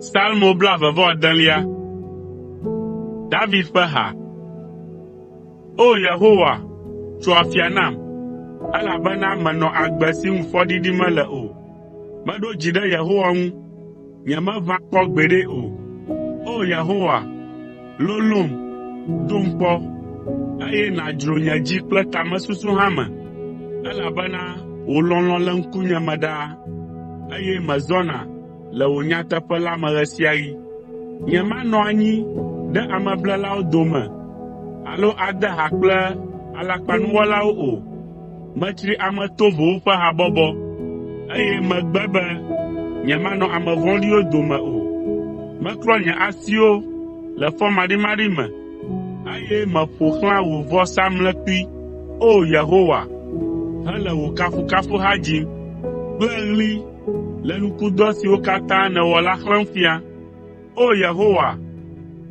Salmo blaeve-vɔ-adelia. David ƒe ha. O! Yehowa, tso afia nam, elabena menɔ agbe si ŋu fɔɖiɖi mele o. Meɖo dzi ɖe Yehowa ŋu. nyemeʋã kpɔ gbeɖe o. O Yehowa, lolom, ɖom kpɔ, eye nàdzro nye dzi kple tamesusu hã me, elabena wò lɔlɔ̃ le ŋkunye me ɖaa, eye mezɔna le wò nyateƒe la me ɣe sia ɣi. Nyemanɔ anyi ɖe ameblelawo dome alo ade ha kple alakpanuwɔlawo o. Metsri ame tovowo ƒe habɔbɔ, eye megbe be nyemanɔ ame vɔ̃ɖiwo dome o. Meklɔ nye asiwo le fɔmaɖimaɖi me, eye meƒo xlã wò vɔsamlekpui, O! Yehowa, hele wò kafukafuha dzim kple ɣli le nukudɔ siwo katã nèwɔ la xlẽm fia. O! Yehowa,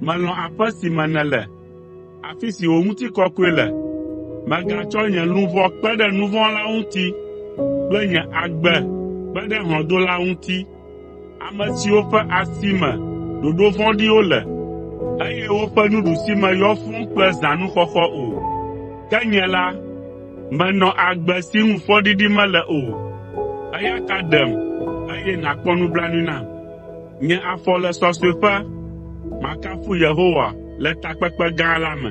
melɔ̃ aƒe si me nèle. afi si wò ŋutikɔkɔe le. Mègatsɔ nye luʋɔ kpe ɖe nu vɔ̃ wɔlawo ŋuti kple nye agbe kpe ɖe hlɔ̃dolawo ŋuti, ame siwo ƒe asi me ɖoɖo vɔ̃ɖiwo le, eye woƒe nuɖusime yɔ fũu kple zãnuxɔxɔ o. Ke nye la, menɔ agbe si ŋu fɔɖiɖi mele o, eya ta ɖem, eye nàkpɔ nublanui nam. Nye afɔ le sɔsɔeƒe, makafu Yehowa le takpekpe gã la me.